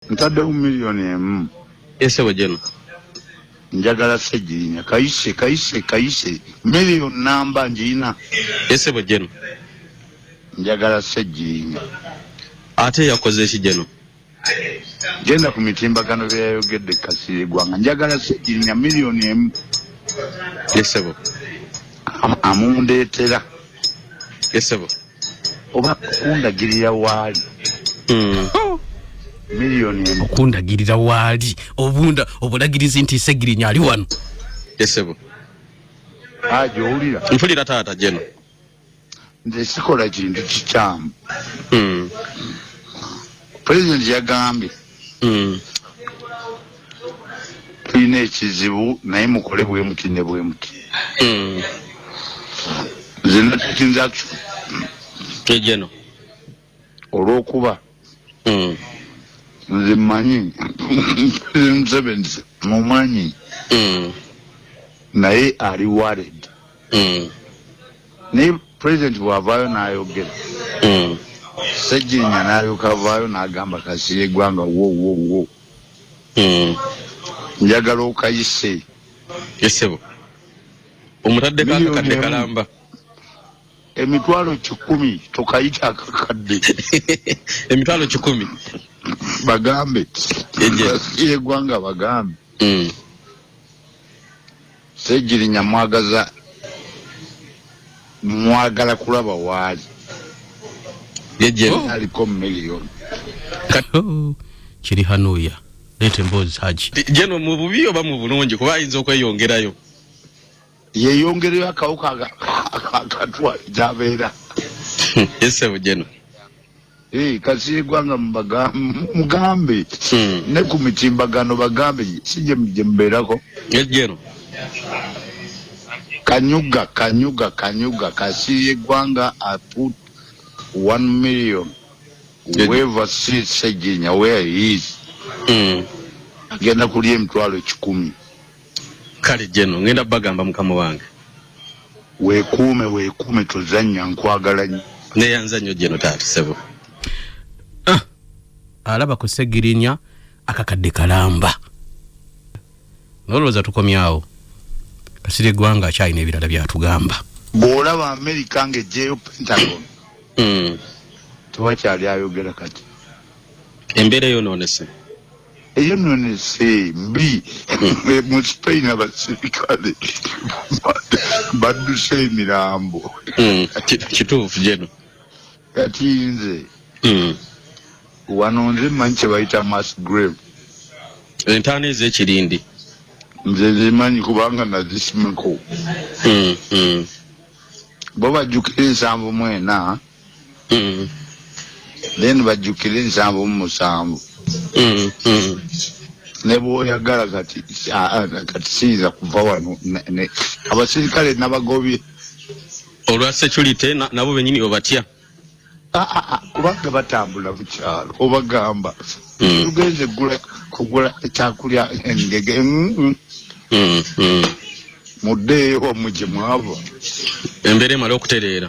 ntaddewo miliyoni emu esebo jeno njagala segirinya kayise kayise kayise miliyoni namba njirina esebo jeno njagala segirinya ate yakoze eki jeno genda ku mitimbagano byeyayogedde kasiri gwanga njagala segirinya miliyoni emu esebo amundeetera esebo oba kundagirira waali hmm. oh! miliyoni emu okundagirira waali obunda obulagirizi nti segirinya ali wano esebo aja ah, owulira mpulira taata jeno nze sikola kintu kikyamu hmm. pulezidenti yagambye mm. tulina ekizibu naye mukole bwemuti ne bwemuti mm. zenatkinzakijeno olwokuba mm. nze mmanyi museveni mumanyi mm. naye ali wared mm. naye president bwavaayo nayogera mm. sejjinya nalyoka avaayo nagamba kasiri egwanga wowowo mm. njagala okayise esebo omutaddeko akakadde kalamba emitwalo kikumi tokayita akakadde emitwalo kikumi bagambe egwanga bagambe mm. Ssegirinya mwagaza mwagala kulaba waali ye gyenaliko oh. million oh, kiri hanuya leeta emboozi haji jeno mu bubi oba mu bulungi kuba ayinza okweyongerayo yeyongereyo akawuka akatwale gyabeera esebo jeno Hey, kasiigwa nga mugambe hmm. ne ku mitimbagano bagambe si gye mbeerako ejjero kanyuga kanyuga kanyuga kasiiye gwanga i put one million whoever see sejinya where he is hmm. agenda kulya emitwalo kikumi Kale General ngenda bagamba mukama wange. Wekuume wekuume tozannya nkwagala nnyo. Neyanza nnyo General taata sebo. Ah, alaba ku Ssegirinya akakadde kalamba. Nolowooza tukomyawo. Kasirye Ggwanga akyalina ebirala byatugamba. Bw'olaba Amerika ng'eggyeyo Pentagon. Mm. Tewakyali ayogera kati. Embeera eyonoonese. eyo nno nese mbi mu spain abasirikale badduse emirambo hmm, kituufu jeno kati nze hmm. wano nze manyi kyebayita mass grave entaana ezekirindi nze zimanyi kubanga nazisimako hmm, bo bajjukira ensanvu mwena then bajjukire ensanvu mu musanvu ne bwoyagala kati kati siyinza kuva wano abasirikale nabagobye olwa security nabo benyini obatya kubanga batambula bukyalo obagamba mm. tugenze gula kugula ekyakulya engege mm, mm. muddeeyo omuje mwava embeera emala okutereera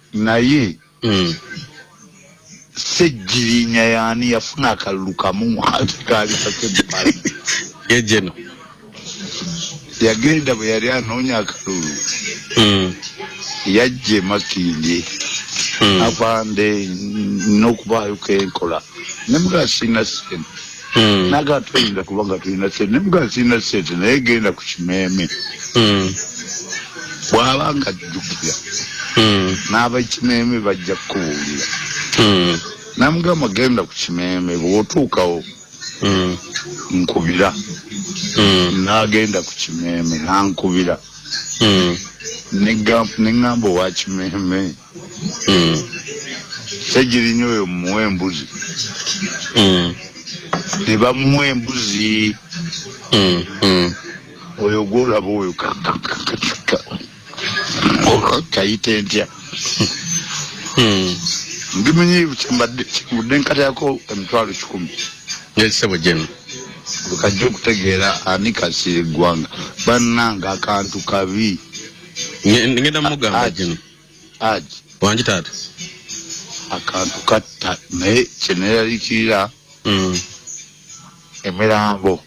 Naye Ssegirinya yaani yafuna akalulu kamu ate kaali kake bbala. Ye Geno. Yagenda bwe yali anoonya akalulu yajja e Makindye Afande nnina okubaayo ke nkola ne mugamba sirina ssente. hmm. naga tuyinza kuba nga tulina sente nemuga sirina sente naye genda ku kimeeme hmm. bwaba nga jjukira hmm. n'abakimeeme bajja kukubuulira namugamba genda ku kimeeme bwotuukawo nkubira nagenda ku kimeeme nankubira neŋamba owa kimeeme Ssegirinya hmm. oyo mumuwa embuzi hmm. ne bamuwa embuzi hmm, oyo gwolaba oyo kakakakakika kayita entya ndimanyi kyembadde kivudde nkatayako emitwalo kikumi nesebo jemu kajja okutegeera ani kasiira eggwanga bannanga akantu kabi ngenda mugamba jemu aj wangi taata akantu katta naye kyeneralikirira mm. emirambo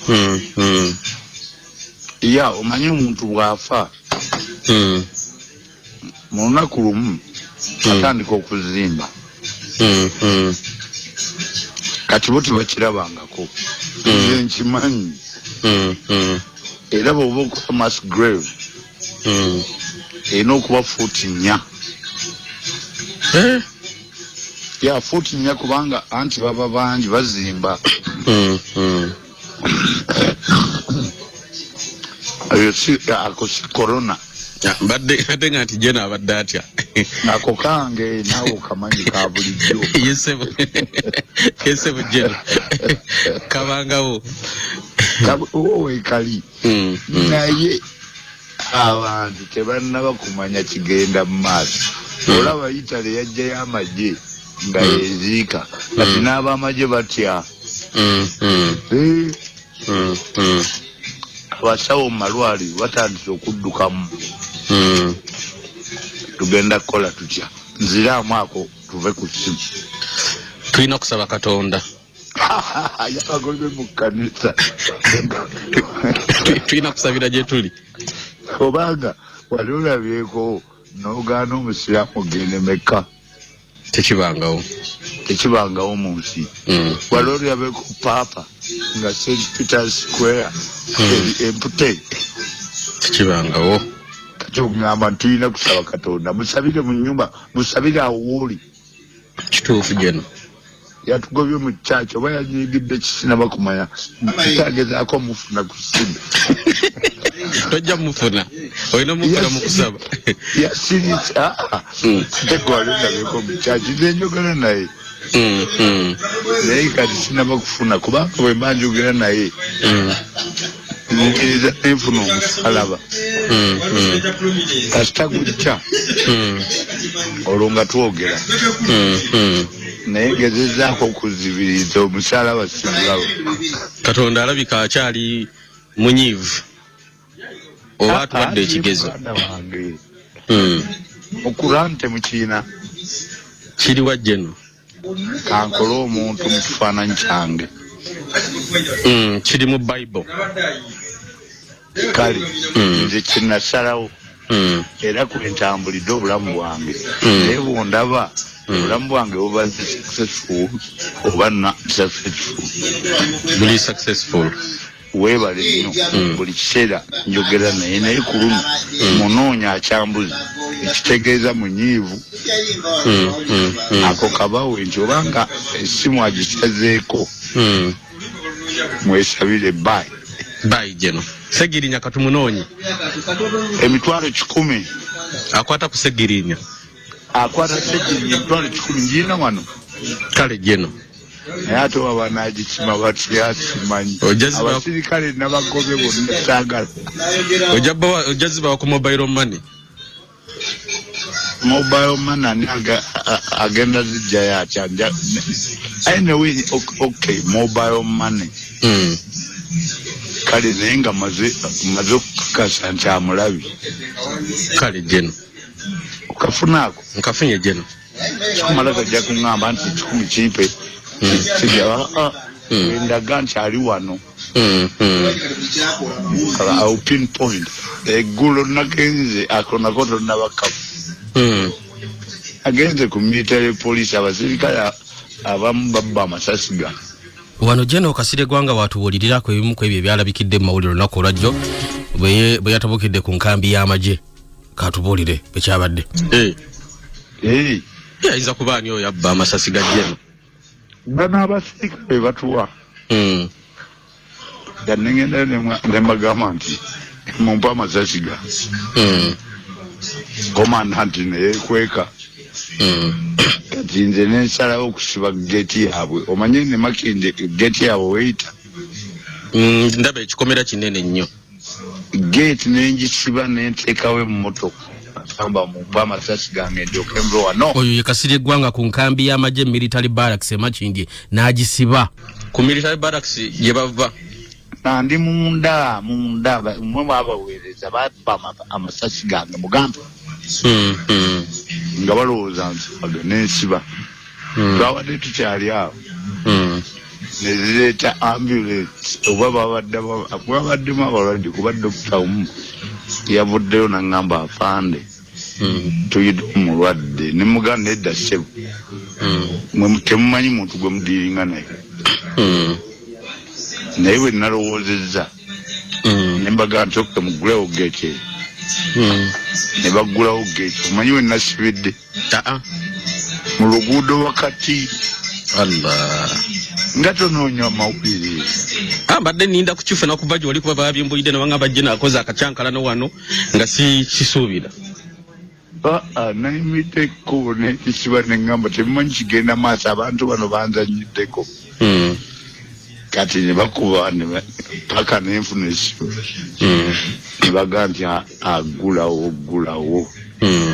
mm, mm. ya omanyi omuntu bwafa mm. mu lunaku lumu mm. atandika okuzimba mm, mm. kati bo tebakirabangako mm. nkimanyi mm, mm. era bwoba okufa mass grave hmm. erina okuba fuuti nnya eh? ya fuuti nnya kubanga anti baba bangi bazimba hmm, hmm. eyo si ako si corona mbadde ate nga nti jena abadde atya ako kange nawe okamanyi ka bulijjo yesebo jena kabangawo wekali mm, mm. naye abantu tebannaba kumanya kigenda mu maaso mm. olaba itale yajjayo amagye nga mm. yeziika mm. kati mm. n'abamagye batya mm, mm. Eh? Mm, mm. abasawo mu malwali batandise okuddukamu mm. tugenda kukola tutya nziraamu ako tuve ku simu tulina okusaba katonda yabagobye mu kkanisa tulina kusabira gye tuli obanga wali olabyeko n'ogaana omusiraamu ogenda emekka tekibangawo tekibangawo mu nsi mm. wali olabyeko paapa nga st peter square mm. empute tekibangawo kati okugamba tulina kusaba katonda musabire mu nyumba musabire awo wooli kituufu jeno yatugobye mu church oba yanyigidde kisinaba kumanya tutagezaako mufuna ku simu tojja mufuna olina mufuna mukusaba yasiritse ah, ah. hmm. tegwalendabeko mu church nenjogera naye hmm, hmm. naye kati sinaba kufuna kubanga bwemba njogera naye nenkiriza nenfuna omusalaba hmm, hmm. kasita gujja hmm. olwo nga twogera naye ngezezaako okuzibiriza omusalaba simulaba katonda alabika akyali munyiivu oba ah, atuwadde ah, ekigezo mukurante mukiina kiri wajjeno kankole omuntu mu kifaananyi kyange mm, kiri mu bible kale mm. nze kinasalawo mm. era kwentambulidde obulamu bwange naye bwondaba obulamu bwange bubadde successful oba na successful buli successful Webale nnyo mm. buli kiseera njogera naye naye ku luno mm. munoonya akyambuzi ekitegeeza munyiivu mm, ako kabawe nti obanga essimu agisazeeko mwesabire bayi bayi geno segirinya katumunoonyi emitwalo kikumi akwata ku segirinya akwata segirinya emitwalo kikumi ngiina wano kale geno naye ate oba banagikima batya simanyi abasirikale nabagobe bonna sagala ojja zibawa ku mobile money mobile money ani agenda zijjayo atya anyway okay mobile money hmm. kale naye nga maze okukakasa nti amulabi kale jeno okafuna ako nkafunye jeno kikumala gajja kuŋamba nti ekikumi kimpe hmm. kijaa ah, ah. hmm. endaga nti ali wano hmm, au pin point eggulo nagenze akonako tonabakamu agenze ku military police abasirikale abamu babba amasasi ga wano jeno kasire gwanga watubuulirirako ebimu ku ebyo ebyalabikidde mu mawulire olunaku olwajjo bwe yatabukidde ku nkambi y'amagye katubuulire ekyabadde eh. eh. ayinza kuba ani oyo abba amasasi ga jeno bano abasirikale batuwa hmm. nga negendayo nembagamba nti mumpa amasasi ga hmm. komandanti neyekweka hmm. kati nze nensalawo okusiba geti yaabwe omanye nemakinde geti yaabwe weyita ndaba ekikomera kinene nnyo gate nenjisiba nentekawo emmotoka amba mumpe amasasi gange ndyoke mbewa no oyo yekasirye eggwanga ku nkambi y'amagye military barracks emakindye n'agisiba ku military barracks gye bava ndi munda munda mwe mwabaweereza baba amasasi gange mugambe hmm, hmm. nga balowooza nsibaga nensiba hmm. twabadde tukyali awo hmm. nezireeta ambulance oba babaddemwabaddemu abalwadde kuba dokita omu yavuddeyo nangamba afande hmm. tuyide omulwadde nemuganda edda sebo temumanyi muntu gwe mudiringa naye naye bwe nalowoozezza nembaga nti oke mugulewo geke ne baggulawo geke omanyi we nasibidde taa mu luguudo wakati allah nga tonoonya amawulire ah, mbadde ninda kukifuna kuva gyoli kuba babimbuyidde nabanga bajje nakoze akakyankalano wano nga sikisuubira aa ah, ah, nayimidde ekkubo nekisiba neŋamba tebimanyi kigenda maaso abantu bano banzanyiddeko hmm. kati nebakuba paka nenfuna esimu hmm. nebaga nti agulawo gulawo hmm.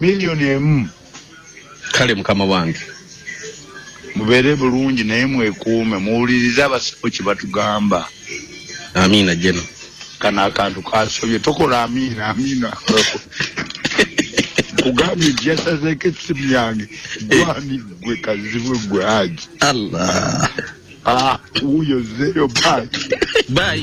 miliyoni emu kale mukama wange mubeere bulungi naye mwekuume muwulirize abasawo kye batugamba amiina jeno kano akantu kasobye tokola amiina amiina kugambye nti yasazeeko essimu yange gwani gwe kazibwe gwe haji allah ah, wuyo zeyo bayi bayi